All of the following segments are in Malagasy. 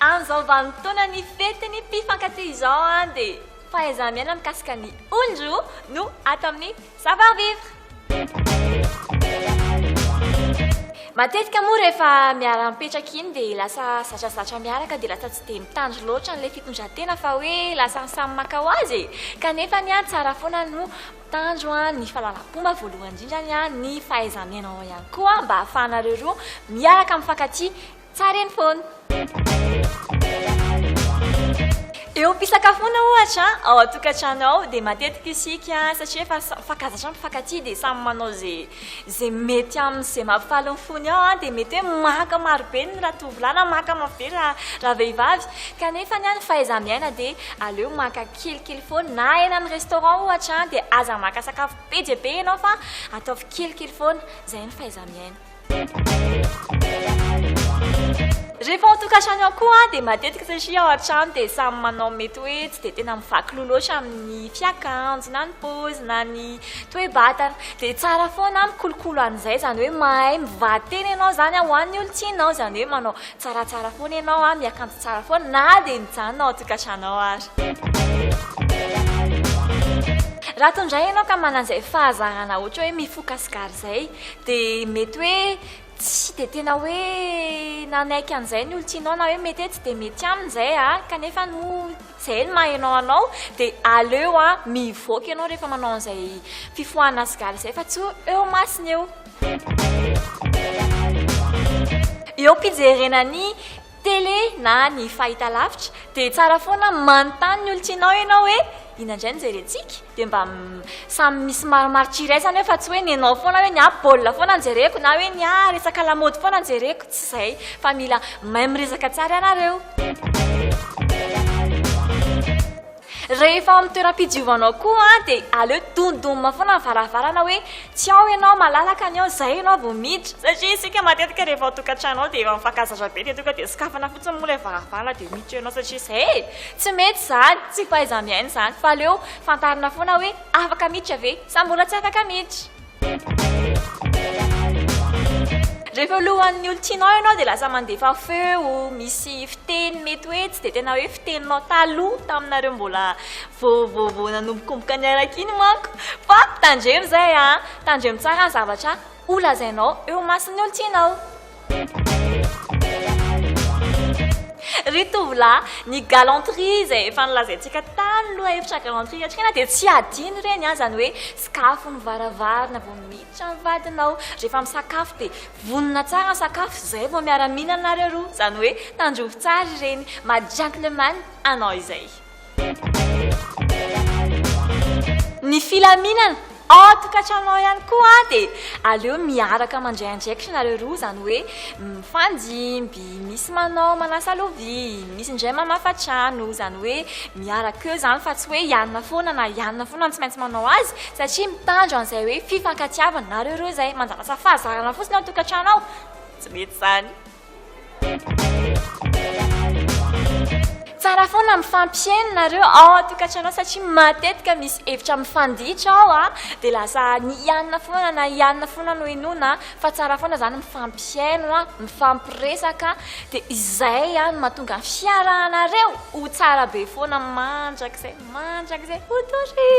Amin'izao vanim-potoana ny fetin'ny mpifankatia izao dia fahaiza-miaina mikasika ny olon-droa no ato amin'ny Savoir Vivre. Matetika moa rehefa miara-mipetraka iny dia lasa zatrazatra miaraka dia lasa tsy dia mitandro loatra an'ilay fitondran-tena fa hoe lasa samy maka ho azy e. Kanefa ny ahy tsara foana no Tanjo an ny fahalalam-pomba voalohany indrindra ny an ny fahaiza-miainao ihany koa mba ahafahanareo roa miaraka mifankatia tsara eny foana. Eo am-pisakafoana ohatra ao an-tokantrano ao dia matetika isika satria efa mifankazatra mifankatia dia samy manao izay Izay mety aminy izay mampifaly ny fony ao dia mety hoe maka marobe ny ratovolahy na maka marobe ny ravehivavy kanefa ny fahaiza-miaina dia aleo maka kelikely foana na eny amin'ny restaurant ohatra dia aza maka sakafo be dia be ianao fa ataovy kelikely foana izay ny fahaiza-miaina. Rehefa ao an-tokantrano ao koa dia matetika satria ao an-trano dia samy manao mety hoe tsy dia tena mivaky loha loatra amin'ny fiakanjo na ny paozina na ny Toe batana. Dia tsara foana an mikolokolo an'izay, izany hoe mahay mivaditeny ianao izany an, ho an'ny olon-tianao, izany hoe manao tsaratsara foana ianao an, miakanjo tsara foana, na dia mijanona ao an-tokantranao aza. Raha toa indray ianao ka manana izay fahazarana ohatra hoe mifoka sigara izay, dia mety hoe tsy dia tena hoe nanaiky an'izay ny olon-tianao, na hoe mety hoe tsy dia mety aminy izay an, kanefa moa. Zay no maha enao anao de aleo a mivoaka enao rehefa manao an'izay fifohana cigare zay fa tsy eo masina eo. Eo am-pijerena ny télé na ny fahitalavitra dia tsara foana manontany ny olon-tianao ianao hoe inona indray no jerentsika? dia mba samy misy marimaritra iraisana eo fa tsy hoe ny anao foana hoe ny ahy baolina foana no jereko na hoe ny ahy resaka lamaody foana no jereko, tsy izay fa mila mahay miresaka tsara ianareo. Rehefa ao amin'ny toeram-pidiovanao koa dia aleo domdomina foana ny varavarana hoe tsy ao ianao, malalaka ny ao, izay ianao vao miditra. Satria isika matetika rehefa ao an-tokantrano ao dia efa mifankazaza be dia tonga dia sokafana fotsiny moa ilay varavarana dia miditra ianao satria izay e! Tsy mety izany, tsy fahaiza-miaina izany fa aleo fantarina foana hoe afaka miditra ve sa mbola tsy afaka miditra. Rehefa eo alohan'ny olon-tianao ianao dia lasa mandefa feo, misy fiteny mety hoe tsy dia tena hoe fiteninao taloha taminareo mbola vao vao vao nanombokomboka niaraka iny manko. Fa tandremo izay an! Tandremo tsara ny zavatra holazainao eo imason'ny olon-tianao. Ry tovolahy, ny galanterie izay efa nolazaintsika tany lohahevitra galanterie iatrehana dia tsy adino ireny an, izany hoe sikafo ny varavarana vao miditra ny vadinao, rehefa misakafo dia vonona tsara ny sakafo izay vao miara-mihinana nareo roa, izany hoe tandrovy tsara ireny, maha gentleman anao izay. Ny filaminana, an-tokantranonao ihany koa dia aleo miaraka mandray andraikitra nareo roa, izany hoe mifandimby, misy manao manasa lovia, misy indray mamafa trano, izany hoe miaraka eo izany fa tsy hoe ianona foana na ianona foana no tsy maintsy manao azy satria mitandro an'izay hoe fifankatiavana, nareo roa izay manjanasa fahazarana fotsiny ao an-tokantrano ao, tsy mety izany. Tsara foana mifampihaino nareo ao an-tokantrano satria matetika misy hevitra mifanditra ao a, dia lasa ny hianina foana na hianina foana no henoina fa tsara foana izany mifampihaino a, mifampiresaka dia izay a no mahatonga ny fiarahanareo ho tsara be foana mandrakizay mandrakizay ho tory.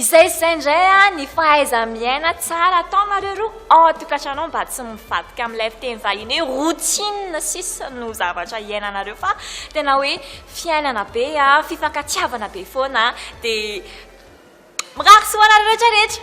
Izay sy izay indray an, ny fahaiza-miaina tsara ataonareo roa ao an-tokantranao mba tsy mivadika amin'ilay fiteny vahiny hoe routine sisa no zavatra iainanareo fa tena hoe fiainana be an, fifankatiavana be foana an, dia mirary soa ho anareo rehetra rehetra.